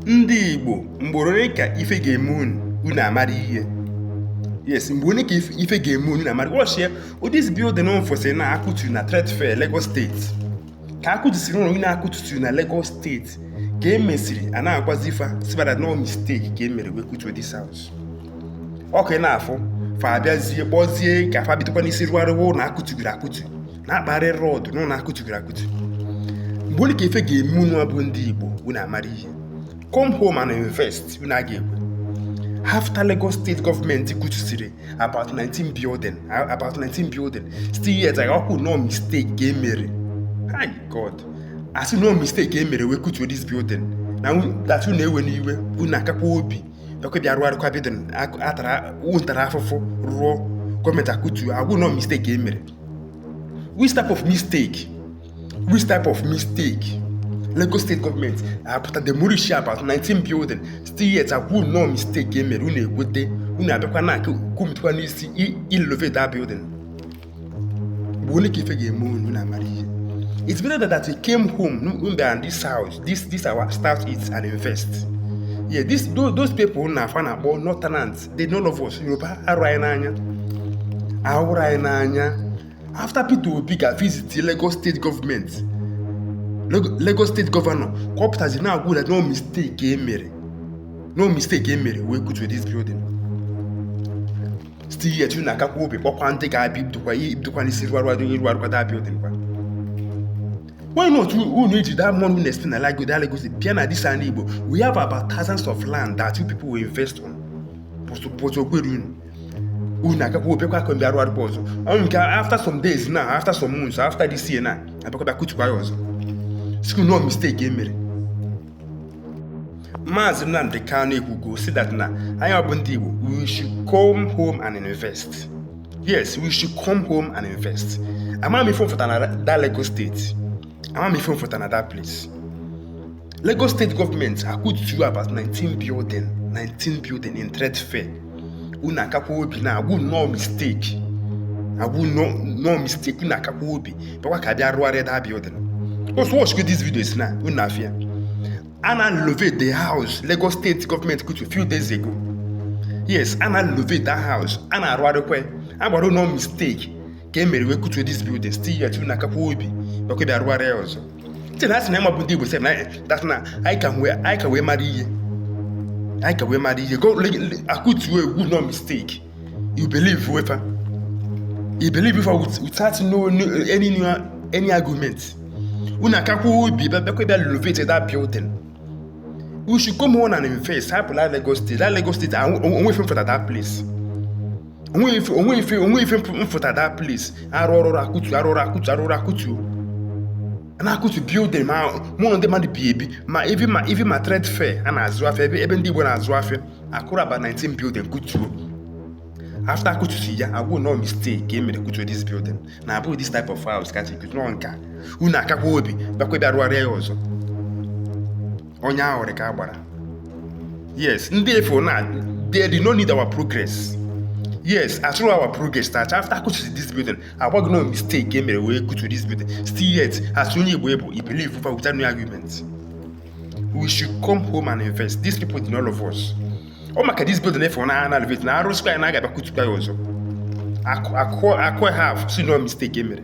ndị igbo mgbe ole ka ife ga-eme unu unu amara ihe yes mgbe ole ka ife ga-eme unu amara watch here this building ofesi na akụtu na trade fair Lagos state ka akụtusiri ụlọ nine akụtu na Lagos state ka e mesịrị a na-agwazi fa sị fa that na ọ mistake ka e mere wee kutuo this house ọkụ na-afụ fa abịazie kpọzie ka fa bidokwa n'isi rụgharịwa ụlọ akụtugoro akụtu na-akparị road na ụlọ akụtugoro akụtu mgbe ole ka ife ga-eme unu abụ ndị igbo unu amara ihe come home and invest unu a ga-ekwe after lagos state government kutusiri about 19 building about 19 building still yet a na-ekwu na ọ mistake ka emere hi god a sị na ọ mistake ka emere wee kutuo this building na that unu ewe n'iwe unu akakwa obi bịakwa bịa rụgharịkwa building a tara unu tara afụfụ rụọ government akutu a gwa unu na ọ mistake e mere which type of mistake which type of mistake lagos state government apụta demolish about 19 building still yet a gwa unu na ọ mistake emere unu ekwete unu abịakwa na aka kwumitekwa n'isi i- irenovate that building mgbe ole ka ife ga-eme unu na amara ihe it's better that we came home n'igbo and this south east this our state and invest yeah this those, those people na fa na-akpọ northerners they no love us yoruba ahụrọ anyị n'anya ahụrọ anyị n'anya after peter obi ga visit lagos state government lagos state governor ka ọ pụtazi na-agwa unu na ọ mistake e mere na ọ mistake e mere wee kutuo this building still yet unu akakwa obi kpọkwa ndị ga-abịa ibidokwa n'isi rụgharị irụgharịkwa that building kwa Why not unu eji that money unu spend like go that Lagos bia na this ana Igbo? We have about thousands of land that you people will invest on. But but o kwerọ unu. Unu akakwa obi bịakwa ka unu bịa rụgharịa ọzọ. Okay after some days now, after some months, after this year now, abịakwa bịa kutukwa ya ọzọ. Sị unu na ọ mistake e mere. Maazị Nnamdi Kanu ekwugo si that na anyị bụ ndị Igbo we should come home and invest yes we should come home and invest amarọ m ife unu fụta na that Lagos state amarọ m ife unu fụta na that place Lagos state government kụturu about 19 building 19 building in trade fair unu akakwa obi na a gwa unu na ọ mistake a gwa unu na ọ mistake unu akakwa obi bịakwa ka bịa rụgharịa that building ọ sị unu watchgo this videos now unu afụ ya a na-renovate the house lagos state government kutu few days ago yes a na-renovate that house a na-arụgharịkwa a gwara unu na ọ mistake ka e mere wee kutuo this building still yet unu akakwa obi bịakwa bịa rụgharịa ọzọ ntị na asị na ịmabụ ndị Igbo sị na that na anyị ka wee anyị ka wee mara ihe anyị ka wee mara ihe go a kụtuo a gwa ị na ọ mistake you believe fa you believe fa without no any no any argument unu akakwa obi bịakwa bịa renovate that building we should come home and invest hapụ na Lagos State that Lagos State onwe ife m fụta that place onweghị ife onweghị ife onweghị ife mfụta da place arụ ọrụ akụtu arụ ọrụ akụtu arụ ọrụ akụtu na-akụtu building ma mụ na ndị mmadụ bi ebi ma ivi ma ivi ma trade fair a na-azụ afịa ebe ebe ndị Igbo na-azụ afịa akụrụ aba 19 building kutuo after akụtu si ya agwụ nọ mistake e mere kutuo this building na abụghị this type of house ka chi kutuo nka unu akakwa obi bakwa bịa rụgharịa ya ọzọ onye ahụ dị ka a gbara yes ndị ị fụ na they do not need our progress yes achọrọ our progress ncha after a kụtusịa this building a gwa gị na ọ mistake ka e mere wee kụtuo this building still yet as onye Igbo ị bụ ị believe fa without no argument we should come home and invest these people they don't love us ọ maka this building ị fụ na a na-renovate na a rụsịkwa ya na a ga-abịa kụtukwa ya ọzọ a kụ a kụ a kụọ ha sị na ọ mistake e mere